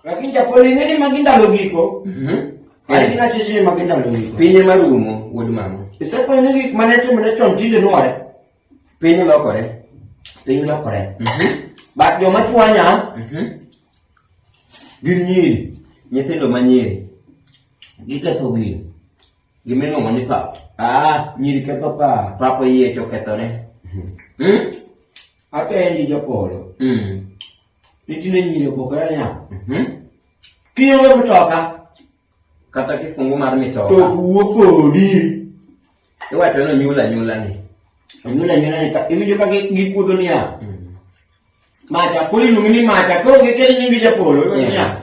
Lakini japo lingine maginda logiko. Mhm. Mm Mari kina chichi maginda logiko. Pinye marumo wuod mama. Isepo ni gik mane to mane chon tinde nuore. Pinye lokore. Pinye lokore. Mhm. Mm Bat joma chwanya. Mhm. Mm gin nyiri, nyithindo ma nyiri. Giketho gino. Gimeno mani pa. Ah, nyiri ketho pa. Papa yie chokethore. Mhm. Mm. Mm? Apenji japolo. Mm. Nitiere nyiri opogore niya, mhm. kionge mtoka kata kifungu mar mitoka to wuo kodi iwacho ni onyuol anyula ni onyuol anyula ni iwinjo ka gikuodho niya mm. macha koro iluongi ni macha koro gikel nyingi japolo iwacho niya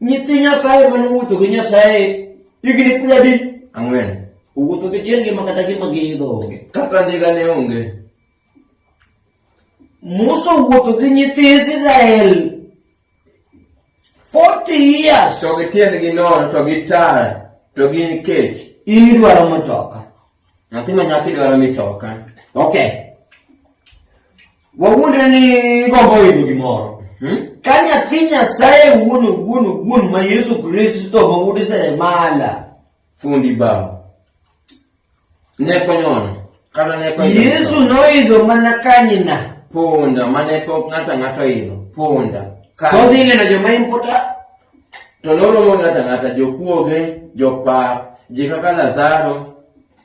Nyithi Nyasaye mane owuotho gi Nyasaye higni piero adi? Ang'wen. Owuotho gi tiendgi ma kata gima giidho onge. Kaka ndiga ne onge. Musa owuotho gi nyithi Israel 40 years. To gi tiendgi nono to gi tar to gin kech. In idwaro matoka. Nyathi ma nyako idwaro mitoka. Okay. Wawuondre ni gombo yudo gimoro. Hmm? Ka nyathi Nyasaye wuon wuon wuon ma Yesu Kristo ma wuod Seremala. Fundi bao. Ne konyono. Kata ne konyono. Yesu noidho mana kanyina. Punda mane pok ng'ata ng'ata idho. Punda. Kodhi neno joma impota. To noromo ng'ata ng'ata jokuoge, jopar, ji kaka Lazaro,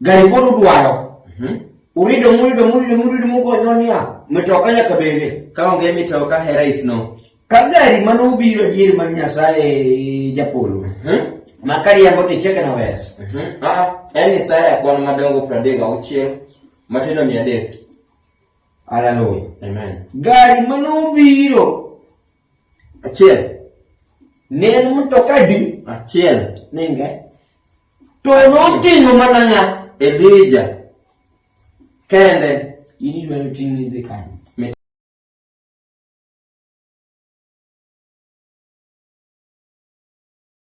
Gari koro udwaro. Mhm. Urido murido murido murido mugonyo niya. Mitoka nyaka bende. Ka onge mitoka hera isno. Ka gari mane ubiro dier mar Nyasaye japolo. Mhm. Ma kariambo to icheke na wes. Mhm. Ah, en ni saa ya kwan madongo pradek auchiel matindo mia adek. Hallelujah. Amen. Gari mane ubiro Achiel. Ne en mtoka adi? Achiel. Ninge. To noting'o mana ng'a? Elija. Kende. In idwa ni ting' idhi kanye?